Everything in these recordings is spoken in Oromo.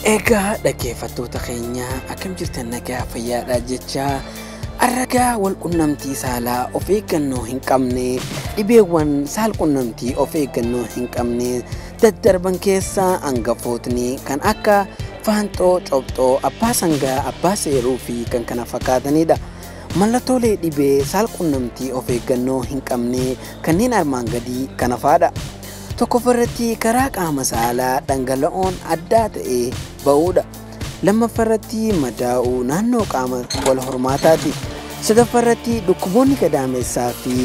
Egaa dhaggeeffattoota keenya akkam jirtan nagaa fayyaadha jechaa arragaa wal qunnamtii saalaa of eeggannoo hin qabne dhibeewwan saal qunnamtii of eeggannoo hin qabne daddarban keessaa hangafootni kan akka faanxoo cobxoo abbaa sangaa abbaa seeruu fi kan kana fakkaatanidha. Mallattoolee dhibee saal qunnamtii of eeggannoo hin qabne kanneen armaan gadii kana faadha. Tokkoffaa irratti karaa qaama saalaa dhangala'oon addaa ta'ee ba'uudha. Lammaffaa irratti madaa'uu naannoo qaama wal hormaataati. Sadaffaa irratti dhukkuboonni gadaamessaa fi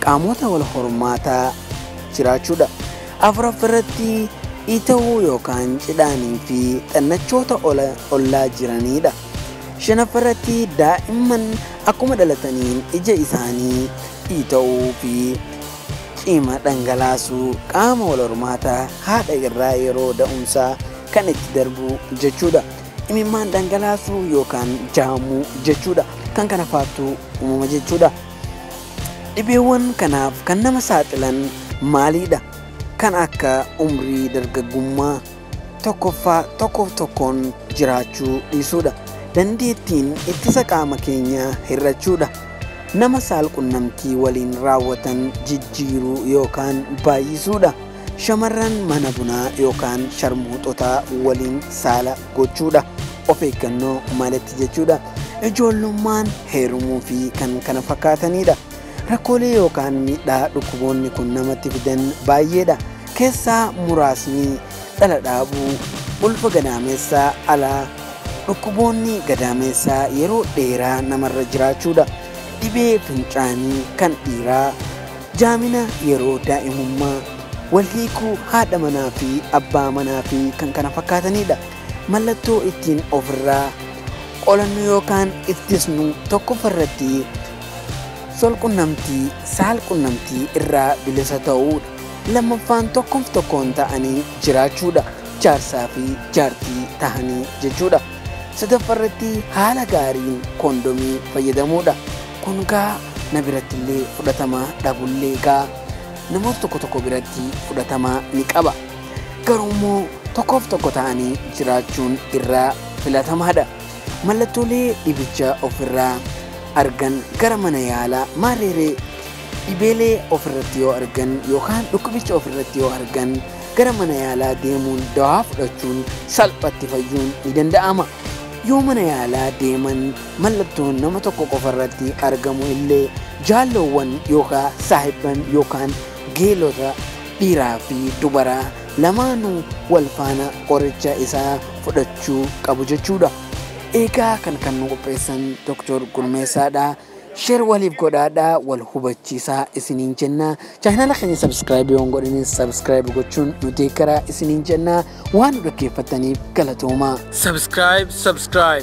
qaamota wal hormaataa jiraachuudha. Afuraffaa irratti ita'uu yookaan cidhaanii fi xannachoota ola- ollaa jiraniidha. Shanaffaa irratti daa'imman akkuma dhalataniin ija isaanii ita'uu fi Cima dhangalaasuu, qaama walhormaataa haadha irraa yeroo da'umsaa kan itti darbu jechuudha. Imimmaan dhangalaasuu yookaan jaamuu jechuudha. Kan kana faattu uumama jechuudha. Dhibeewwan kanaaf kan nama saaxilan maaliidha? Kan akka umrii dargaggummaa. tokkoffaa tokkoof tokkoon jiraachuu dhiisuudha. Dandeettiin ittisa qaama keenyaa hir'achuudha. Nama saalqunnamtii waliin raawwatan jijjiiruu yookaan baay'isuudha. Shamarran mana bunaa yookaan sharmuuxotaa waliin saala gochuudha. Of eeggannoo maletti jechuudha. Ijoollummaan heerumuu fi kan kana fakkaatanidha. Rakkoolee yookaan miidhaa dhukkuboonni kun namatti fidan baay'eedha. keessaa muraasni dhala dhaabuu, ulfa gadaameessaa alaa, dhukkuboonni gadaameessaa yeroo dheeraa namarra jiraachuudha, dhibee fincaanii kan dhiiraa, jaamina yeroo daa'imummaa, wal hiikuu haadha manaa fi abbaa manaa fi kan kana fakkaatanidha. Mallattoo ittiin ofirraa qolannu yookaan ittisnu tokkoffaa irratti sol qunnamtii, saal qunnamtii irraa bilisa ta'uudha. Lammaffaan tokkoof tokkoon ta'anii jiraachuudha. Jaarsaa fi jaartii tahanii jechuudha. Sadaffaa irratti haala gaariin koondomii fayyadamuudha. Kun gaa na biratti illee fudhatama dhabullee gaa namoota tokko tokko biratti fudhatama ni qaba. Garuu immoo tokkoof tokko ta'anii jiraachuun irraa filatamaadha. Mallattoolee dhibicha ofirraa argan gara mana yaalaa maarreeree Dhibeelee of irratti yoo argan yookaan dhukkubicha of irratti yoo argan gara mana yaalaa deemuun dawaa fudhachuun salphatti fayyuun ni danda'ama. Yoo mana yaalaa deeman mallattoon nama tokko qofa irratti argamu illee jaalloowwan yookaan saahibban yookaan geelota dhiiraa fi dubaraa lamaanuu wal faana qoricha isaa fudhachuu qabu jechuudha. Eegaa kan kan nu qopheessan Dr. Gurmeessaadha. Share waliif godhaadhaa wal hubachiisaa isiniin jenna. Chaayinaala keenya subscribe yoo hin godhinin subscribe gochuun nu deeggaraa isiniin jenna. Waan nu dhaggeeffattaniif galatoomaa. Subscribe, subscribe.